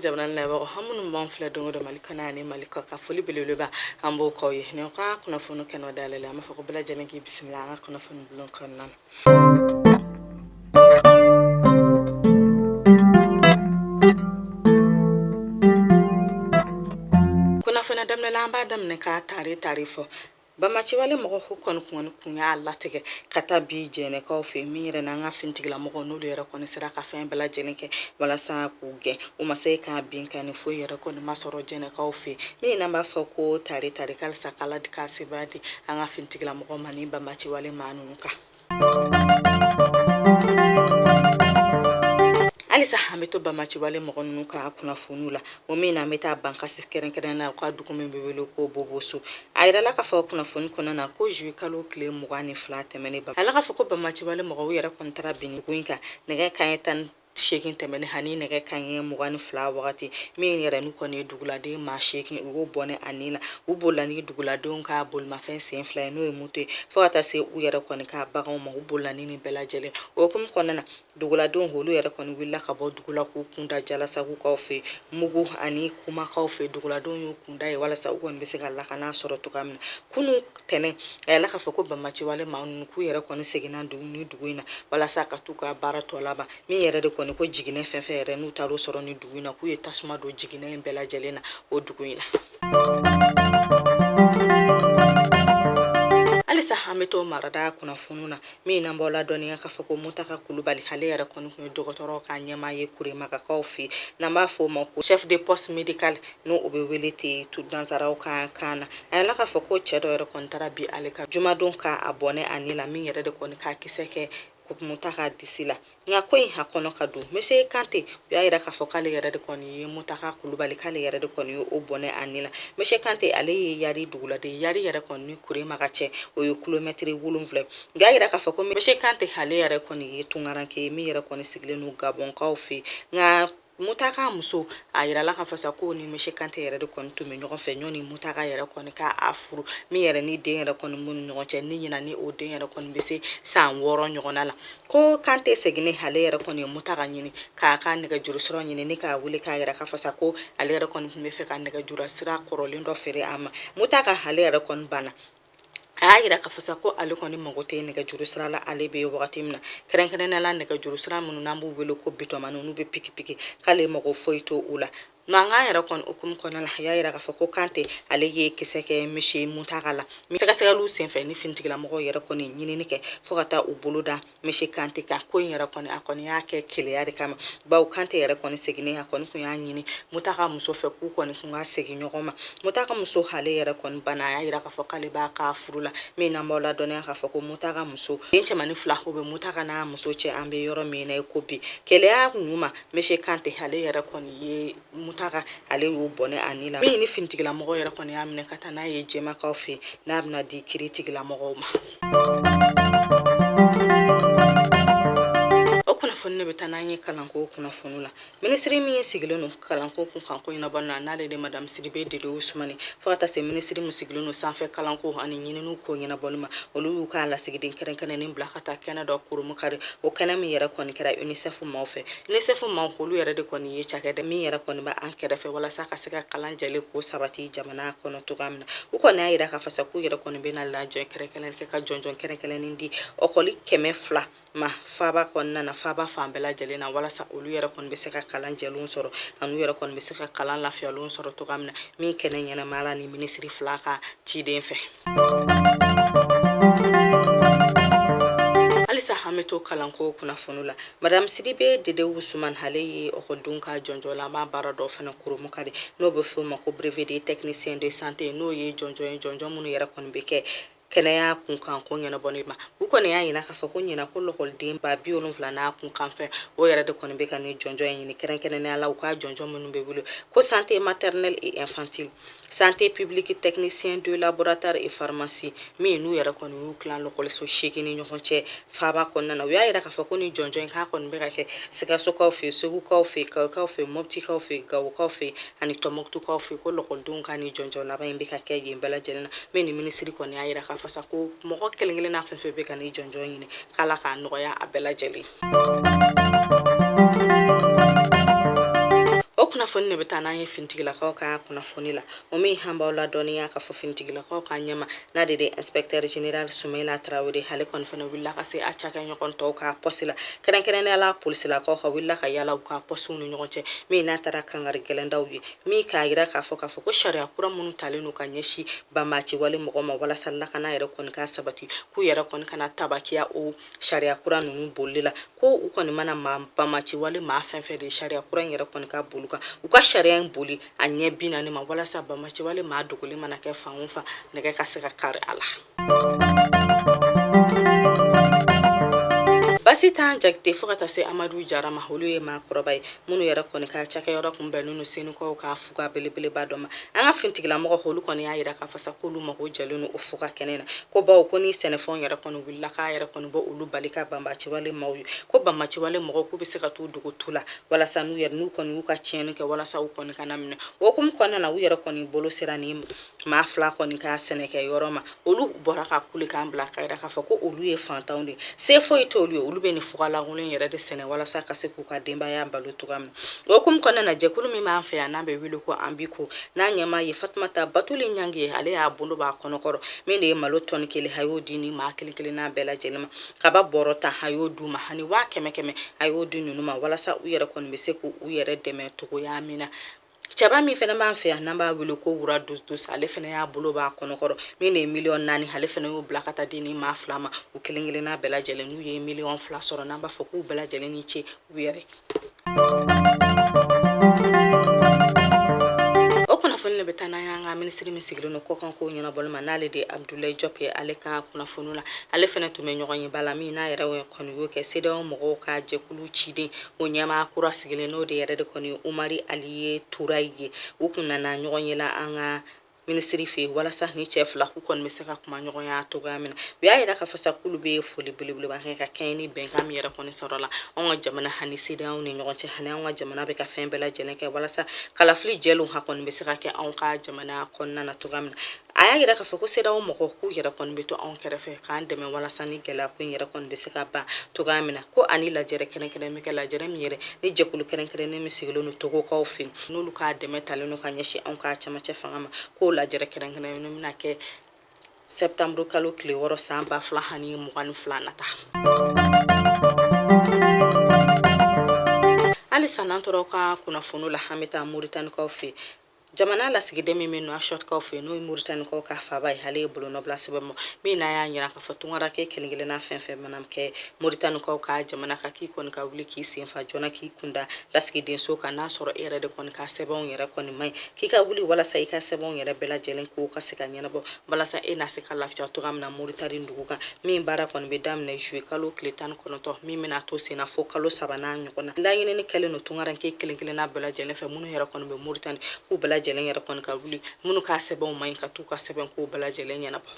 jamana labagaw aw minnu b'an filɛ don go don mali kɔnɔ ani mali kɔkan foli belebeleba an b'o k'aw ye nin ka kunnafoni kɛnɛ dayɛlɛ la an b'a fɔ ko bɛɛ lajɛlen k'i bisimila an ka kunnafoni bulon kɔnɔna na kunnafoniya daminɛ la an b'a daminɛ k'a tare tare fɔ banbaanciwale mɔgɔ ko kɔni kɔni kun y'a latigɛ ka taa bin jɛnɛkaw fɛ min yɛrɛ n'an ka finitigilamɔgɔ n'olu yɛrɛ kɔni sera ka fɛn bɛɛ lajɛlen kɛ walasa k'u gɛn u ma se ka binkanni foyi yɛrɛ kɔni ma sɔrɔ jɛnɛkaw fɛ min n'an b'a fɔ ko tare tare k'halisa k'ala de ka sebaya di an ka finitigilamɔgɔ ma ni banbaanciwale maa ninnu kan halisa an bɛ to banbaanciwale mɔgɔ ninnu ka kunnafoniw la o min na an bɛ taa bankasi kɛrɛnkɛrɛn na u ka dugu min bɛ wele ko boboso a yirala k'a fɔ kunnafoni kɔnɔna na ko jui kalo tile mugan ni fila tɛmɛnen ba ala k'a fɔ ko banbaanciwale mɔgɔw yɛrɛ kɔni taara bin ni dugu in kan nɛgɛ kaɲɛ tan seegin tɛmɛnen ani nɛgɛ kaɲɛ mugan ni fila wagati min yɛrɛ n'u kɔni ye duguladen maa seegin u y'o bɔnɛ a ni na u bolila ni duguladenw ka bolimafɛn sen fila ye n'o ye moto ye fo ka taa se u yɛrɛ kɔni ka baganw ma u bolila ni nin bɛɛ lajɛlen o hukumu kɔnɔna na duguladenw olu yɛrɛ kɔni wulila ka bɔ dugula k'u kunda jalasagukaw fɛ mugu ani kumakaw fɛ duguladenw y'u kunda yen walasa u kɔni bɛ se ka lakana sɔrɔ cogoya min na kunun tɛnɛn a yirala k'a fɔ ko banbaanciwale maa ninnu k'u yɛrɛ kɔni seginna dugu ni dugu in na walasa ka t'u ka baara tɔ laban min yɛrɛ de kɔni ko jiginɛ fɛn fɛn yɛrɛ n'u taar'o sɔrɔ ni dugu in na k'u ye tasuma don jiginɛ in bɛɛ lajɛlen na o dugu in na halisa an bɛ to marada kunnafoniw na min na n b'aw ladɔnniya k'a fɔ ko mutaka kulubali ale yɛrɛ kɔni tun ye dɔgɔtɔrɔw ka ɲɛmaa ye kuremagakaw fɛ n'an b'a fɔ o ma ko chef de poste médical n'o o bɛ wele ten tu nansaraw ka kan na a yirala k'a fɔ ko cɛ dɔ yɛrɛ kɔni taara bin ale kan jumadon ka a bɔnɛ a ni la min yɛrɛ de kɔni ka kisɛ kɛ mutaka disi la nka ko in a kɔnɔ ka dun monsieur kante u y'a yira k'a fɔ k'ale yɛrɛ de kɔni ye mutaka kulubali k'ale yɛrɛ de kɔni ye o bɔnɛ a ni la monsieur kante ale ye yari duguladen yari yɛrɛ kɔni ni kuremaga cɛ o ye kilomɛtiri wolonfila u y'a yira k'a fɔ ko monsieur kante ale yɛrɛ kɔni ye tungaranke ye min yɛrɛ kɔni sigilen don gabɔnkaw fɛ nka Mutaka muso a jirala k'a fɔ sa ko ni monsieur kante yɛrɛ de kɔni tun bɛ ɲɔgɔn fɛ yanni mutaka yɛrɛ kɔni k'a furu min yɛrɛ ni den yɛrɛ kɔni b'u ni ɲɔgɔn cɛ ni ɲinan ni o den yɛrɛ kɔni bɛ se san wɔɔrɔ ɲɔgɔn la ko kante seginnen ale yɛrɛ kɔni ye mutaka ɲini k'a ka nɛgɛjuru sɔrɔ ɲini ni k'a wele k'a yira k'a fɔ sa ko ale yɛrɛ kɔni tun b'a fɛ ka nɛgɛjurusira kɔrɔlen dɔ feere a ma mutaka ale yɛrɛ kɔni banna a y'a jira k'a fɔ sa ko ale kɔni mago tɛ nɛgɛjuru sira la ale bɛ wagati min na kɛrɛnkɛrɛnnenya la nɛgɛjuru sira minnu n'an b'u wele ko bitɔnmani n'u bɛ pikipiki k'ale mago foyi t'olu la nka yɛrɛ kɔni o hukumu kɔnɔna la a y'a yira k'a fɔ ko kante ale ye kisɛ kɛ misi mutaka la sɛgɛsɛgɛliw senfɛ ni finitigilamɔgɔw yɛrɛ kɔni ɲinini kɛ fɔɔ ka taa u bolo da misi kante ka ko in yɛrɛ kɔni a kɔni y'a kɛ keleya de kama bawo kante yɛrɛ kɔni seginnen a kɔni tun y'a ɲini mutaka muso fɛ k'u kɔni tun ka segin ɲɔgɔn ma mutaka muso ale yɛrɛ kɔni bana a y'a yira k'a fɔ k'ale b'a ka furu la min n'an b'aw ladɔnniya k'a fɔ ko mutaka muso den cɛmani fila o bɛ mutaka n'a muso cɛ an bɛ yɔrɔ min na i ko bi keleya ɲuman misi kante ale yɛrɛ kɔni ye mutaka ale y'o bɔnɛ a ni la min ni finitigilamɔgɔ yɛrɛ kɔni y'a minɛ ka taa n'a ye jɛmakaw fɛ n'a bɛna di kiritigilamɔgɔw ma o kunnafoni ne bɛ taa n'an ye kalanko kunnafoni la minisiri min sigilen don kalanko kunkan ko ɲɛnabɔ na n'ale de madamu sidibe dede usumani fo ka taa se minisiri min sigilen don sanfɛ kalanko ani ɲininiw ko ɲɛnabɔli ma olu y'u ka lasigiden kɛrɛnkɛrɛnnen bila ka taa kɛnɛ dɔ kurunbonkari o kɛnɛ min yɛrɛ kɔni kɛra unicef maaw fɛ unicef maakulu yɛrɛ de kɔni ye cakɛda min yɛrɛ kɔni bɛ an kɛrɛfɛ walasa ka se ka kalan jɛlen ko sabati jamana kɔnɔ cogoya min na u kɔni y'a yira k'a fɔ sa k'u yɛrɛ kɔni bɛna lajɛ kɛrɛnkɛrɛn kɛ ka jɔnjɔn kɛrɛnkɛrɛnnin di lɔkɔli kɛmɛ fila ma faaba kɔnɔna na faaba fan bɛɛ lajɛlen na walasa olu yɛrɛ kɔni bɛ se ka kalan jɛlenw sɔrɔ an'u yɛrɛ kɔni bɛ se ka kalan lafiyalenw sɔrɔ cogoya min na min kɛnɛ ɲɛnamaya la ni minisiri fila ka ciden fɛ halisa an bɛ to kalanko kunnafoni la madame sidibe dede usuman ale ye lɔkɔlidenw ka jɔnjɔnlama baara dɔ fana kurunbonkari n'o bɛ f'o ma ko brevet de technicien de santé n'o ye jɔnjɔn ye jɔnjɔn minnu yɛrɛ kɔni bɛ kɛ kɛnɛya kunkan ko ɲɛnabɔli ma u kɔni y'a jira k'a fɔ ko ɲinan ko lɔkɔliden ba bi wolonfila n'a kunkanfɛn o yɛrɛ de kɔni bɛ ka ni jɔnjɔn in ɲini kɛrɛnkɛrɛnnenya la u ka jɔnjɔn minnu bɛ wele ko santé maternelle et infantile santé publique technicien de laboratoire et pharmacie min n'u yɛrɛ kɔni y'u tilan lɔkɔliso seegin ni ɲɔgɔn cɛ faaba kɔnɔna na u y'a yira k'a fɔ ko ni jɔnjɔn in k'a kɔni bɛ ka kɛ sikasokaw fɛ segukaw fɛ kayikaw fɛ mɔptikaw fɛ gawokaw fɛ ani tɔmɔkutukaw fɛ ko lɔkɔlidenw ka ni jɔnjɔn laban in bɛ ka kɛ yen bɛɛ lajɛlen na min ni minisiri kɔni y'a yira k'a fɔ sa ko mɔgɔ kelen kelenna fɛn o fɛn bɛ ka ni jɔnjɔn ɲini k'ala k'a nɔgɔya a bɛɛ lajɛlen o kunnafoni de bɛ taa n'an ye finitigilakaw ka kunnafoni la o min an b'aw ladɔnniya k'a fɔ finitigilakaw ka ɲɛma n'ale de inspecteur général sumayila tarawele ale kɔni fana wulila ka se a cakɛɲɔgɔn tɔw ka pɔsi la kɛrɛnkɛrɛnnenya la polisilakaw ka wulila ka yaala u ka pɔsiw ni ɲɔgɔn cɛ min n'a taara kankari gɛlɛn d'u ye min k'a yira k'a fɔ k'a fɔ ko sariya kura minnu talen don ka ɲɛsin banbaaciwale mɔgɔ ma walasa lakana yɛrɛ kɔni ka sabati k'u yɛrɛ kɔni kana tabakiya o sariya kura ninnu bolili la ko u kɔni mana banbaci wale maa fɛn fɛn de sariya kura in yɛrɛ kɔni ka boli o kan u ka sariya in boli a ɲɛ bi naani ma walasa banbaci wale maa dogolen mana kɛ fan o fan nɛgɛ ka se ka kari a la basitan jakite fo ka taa se amadu jara ma olu ye maakɔrɔba ye minnu yɛrɛ kɔni ka cakɛyɔrɔ kun bɛnnen no senukaw ka fuga belebeleba dɔ ma an ka finitigilamɔgɔ olu kɔni y'a yira k'a fɔ sa k'olu mago jɛlen no o fuga kɛnɛ na ko bawo ko ni sɛnɛfɛnw yɛrɛ kɔni la k'a yɛrɛ kɔni b'olu bali ka banbaci wale maaw ye ko banbaci wale mɔgɔw k'u bɛ se ka t'u dogo tu la walasa n'u yɛrɛ n'u kɔni y'u ka tiɲɛni kɛ walasa u kɔni kana minɛ o hukumu kɔnɔna na u yɛrɛ kɔni bolo sera ni maa fila kɔni ka sɛnɛkɛ yɔrɔ ma olu bɔra ka kulekan bila k'a yira k'a fɔ ko olu ye fantanw de ye se foyi t'olu ye olu bɛ nin fugalankolon yɛrɛ de sɛnɛ walasa ka se k'u ka denbaya balo cogoya min na o hukumu kɔnɔna na jɛkulu min b'an fɛ yan n'a bɛ wele ko anbiko n'a ɲɛmaa ye fatumata batuli ɲange ale y'a bolo b'a kɔnɔkɔrɔ min de ye malo tɔni kelen a y'o di ni maa kelen kelenna bɛɛ lajɛlen ma kaba bɔrɔ tan a y'o d'u ma ani waa kɛmɛ kɛmɛ a y'o di ninnu ma walasa u yɛrɛ kɔni bɛ se k'u yɛrɛ dɛmɛ cogoya min na cɛba min fana b'an fɛ yan n'an b'a wele ko wura dusus ale fana y'a bolo b'a kɔnɔkɔrɔ min de ye miliyɔn naani ale fana y'o bila ka taa di ni maa fila ma u kelen kelenna bɛɛ lajɛlen n'u ye miliyɔn fila sɔrɔ n'an b'a fɔ k'u bɛɛ lajɛlen ni ce u yɛrɛ kunnafoni de bɛ taa n'an y'an ka minisiri min sigilen don kɔkan ko ɲɛnabɔli ma n'ale de abudulayi jɔp ye ale ka kunnafoni la ale fana tun bɛ ɲɔgɔnyeba la min n'a yɛrɛ kɔni y'o kɛ sedeyawo mɔgɔw ka jɛkulu ciden o ɲɛmaa kura sigilen n'o de yɛrɛ de kɔni umari aliye turayi ye u kun nana ɲɔgɔn ye la an ka minisiri fɛ yen walasa ni cɛ fila k'u kɔni bɛ se ka kuma ɲɔgɔnya cogoya min na u y'a yira k'a fɔ sa k'olu bɛ foli belebeleba kɛ ka kɛɲɛ ni bɛnkan min yɛrɛ kɔni sɔrɔla anw ka jamana ani sedeyawo ni ɲɔgɔn cɛ ani anw ka jamana bɛ ka fɛn bɛɛ lajɛlen kɛ walasa kalafili jɛlenw ha kɔni bɛ se ka kɛ anw ka jamana kɔnɔna na cogoya min na a y'a yira k'a fɔ ko sedeyawo mɔgɔw k'u yɛrɛ kɔni bɛ to anw kɛrɛfɛ k'an dɛmɛ walasa ni gɛlɛya ko in yɛrɛ kɔni bɛ se ka ban cogoya min na ko ani lajɛrɛ kɛrɛnkɛrɛn bɛ kɛ lajɛrɛ min yɛrɛ ni jɛkulu kɛrɛnkɛrɛnnen min sigilen don togokaw fɛ yen n'olu ka dɛmɛ talen don ka ɲɛsin anw ka cɛmancɛ fanga ma k'o lajɛrɛ kɛrɛnkɛrɛn ninnu bɛna kɛ sɛptanburu kalo tile wɔɔrɔ san ba fila ani mugan ni fila nata halisa n'an tora ka kunnafoni la an bɛ taa moritanikaw fɛ jamana lasigiden min bɛ nuwakshɔtkaw fɛ n'o ye moritanikaw ka faaba ye ale ye bolonɔ bila sɛbɛn ma min n'a y'a yira k'a fɔ tungaranke kelen-kelenna fɛn fɛn mana kɛ Moritanikaw ka jamana kan k'i kɔni ka wuli k'i senfa joona k'i kunda lasigidenso kan n'a sɔrɔ e yɛrɛ de kɔni ka sɛbɛnw yɛrɛ kɔni man ɲi k'i ka wuli walasa i ka sɛbɛnw yɛrɛ bɛɛ lajɛlen k'o ka se ka ɲɛnabɔ walasa e na se ka lafiya cogoya min na moritani dugu kan min baara kɔni bɛ daminɛ zuye kalo tile tan ni kɔnɔntɔn min bɛna to senna fo kalo saba n'a ɲɔgɔnna laɲinini kɛlen don tungaranke kelen kelenna bɛɛ lajɛlen fɛ minnu yɛrɛ kɔni bɛ moritani k'u bɛɛ lajɛlen yɛrɛ kɔni ka wuli minnu ka sɛbɛnw man ɲi ka t'u ka sɛbɛn k'u bɛɛ lajɛlen ɲɛnabɔ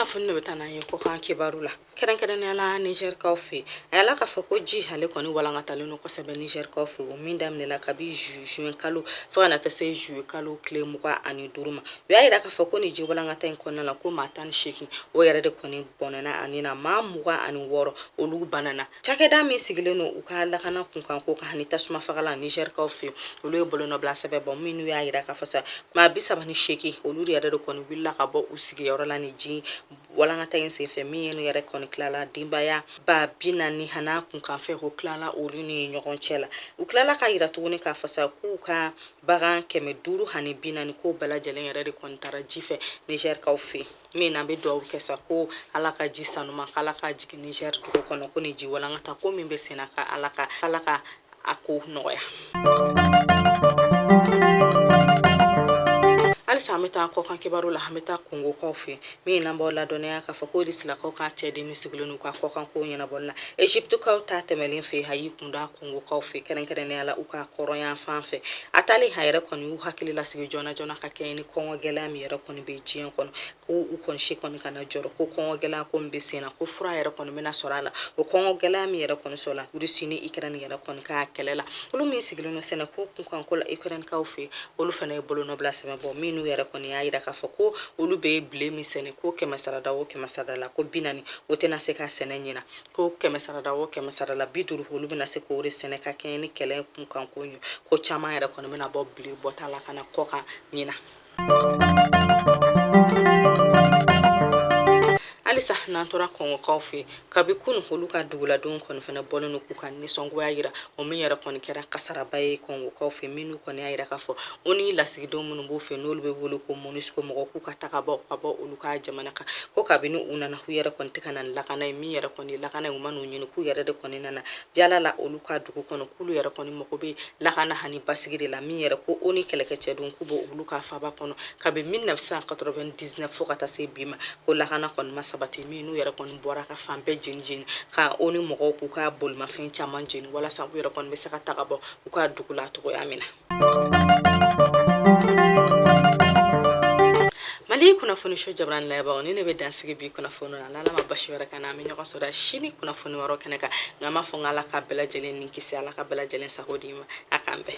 kunnafoni de bɛ taa n'an ye kɔkan kibaru la kɛrɛnkɛrɛnnenya la nizɛrikaw fɛ a yala k'a fɔ ko ji ale kɔni walankatalen don kosɛbɛ nizɛrikaw fɛ o min daminɛla kabi juin kalo fo ka na taa se juillet kalo tile mugan ani duuru ma u y'a yira k'a fɔ ko nin ji walankata in kɔnɔna la ko maa tan ni seegin o yɛrɛ de kɔni bɔnɛna a ni na maa mugan ani wɔɔrɔ olu banana Cakɛda min sigilen don u ka lakana kunkan ko kan ani tasuma fagala nizɛrikaw fɛ olu ye bolonɔbila sɛbɛn bɔ minnu y'a yira k'a fɔ sa maa bi saba ni seegin olu yɛrɛ de kɔni wulila ka bɔ u sigiyɔrɔ la ni ji walankata in senfɛ min ye yɛrɛ kɔni tilala denbaya ba bi naani han'a kunkanfɛn ko tilala olu ni ɲɔgɔn cɛ la u tilala k'a yira tuguni k'a fɔ sa k'u ka bagan kɛmɛ duuru ani bi naani ko bɛɛ lajɛlen yɛrɛ de kɔni taara ji fɛ nizɛrikaw fɛ min na an bɛ dugawu kɛ sa ko ala ka ji sanuma k'ala k'a jigin niger dugu kɔnɔ ko ni ji walankata ko min bɛ senna ka ala ka a ko nɔgɔya halisa an bɛ taa kɔkan kibaru la an bɛ taa kongokaw fɛ min n'an b'aw ladɔnniya k'a fɔ ko risilakaw ka ciden min sigilen n'u ka kɔkan kow ɲɛnabɔli la egyptekaw ta tɛmɛlen fɛ a y'i kunda kongokaw fɛ kɛrɛnkɛrɛnnenya la u ka kɔrɔnyan fan fɛ a taalen a yɛrɛ kɔni y'u hakili lasigi joona joona ka kɛɲɛ ni kɔngɔ gɛlɛya min yɛrɛ kɔni bɛ diɲɛ kɔnɔ ko u kɔni si kɔni kana jɔrɔ ko kɔngɔ gɛlɛya ko min bɛ sen na ko fura yɛrɛ kɔni bɛna sɔrɔ a la o kɔngɔ gɛlɛya min yɛrɛ kɔni sɔrɔla rusi ni ikɛrɛni yɛrɛ kɔni ka kɛlɛ la olu min sigilen don sɛnɛ ko kunkan ko la ikɛrɛnikaw fɛ yen olu fana ye bolonɔbila sɛbɛn bɔ minnu yɛrɛ kɔni y'a yira k'a fɔ ko olu bɛ bile min sɛnɛ ko kɛmɛ sarada o kɛmɛ sarada la ko bi naani o tɛna se ka sɛnɛ ɲina ko kɛmɛ sarada o kɛmɛ sarada la bi duuru olu bɛna se k'o de sɛnɛ ka kɛɲɛ ni kɛlɛ kunkan ko ye ko caman yɛrɛ kɔni bɛna bɔ bile bɔta la ka na kɔkan ɲina halisa n'an tora kongokaw fɛ kabi kunu olu ka duguladenw kɔni fana bɔlen don k'u ka nisɔngoya yira o min yɛrɛ kɔni kɛra kasaraba ye kongokaw fɛ minnu kɔni y'a yira k'a fɔ onu lasigidenw minnu b'u fɛ n'olu bɛ wele ko monusco mɔgɔ k'u ka taga bɔ ka bɔ olu ka jamana kan ko kabini u nana k'u yɛrɛ kɔni tɛ ka na ni lakana ye min yɛrɛ kɔni lakana ye u ma n'u ɲini k'u yɛrɛ de kɔni nana yaala la olu ka dugu kɔnɔ k'olu yɛrɛ kɔni mago bɛ lakana hani basigi de la min yɛrɛ ko onu kɛlɛkɛcɛ don k'u b'olu ka faba kɔnɔ kabi 1999 fo ka taa se bi ma ko lakana kɔni ma sabati min n'u yɛrɛ kɔni bɔra ka fan bɛɛ jeni jeni ka onu mɔgɔw k'u ka bolimafɛn caman jeni walasa u yɛrɛ kɔni bɛ se ka taga bɔ u ka dugu la cogoya min na mali kunnafoniso jabarani layɛbagaw nin ne bɛ dan sigi bi kunnafoni na n'ala ma baasi wɛrɛ k'an na an bɛ ɲɔgɔn sɔrɔ sini kunnafoni wɛrɛw kɛnɛ kan nka n b'a fɔ n ko ala ka bɛɛ lajɛlen ni kisi ala ka bɛɛ lajɛlen sago d'i ma a k'an bɛn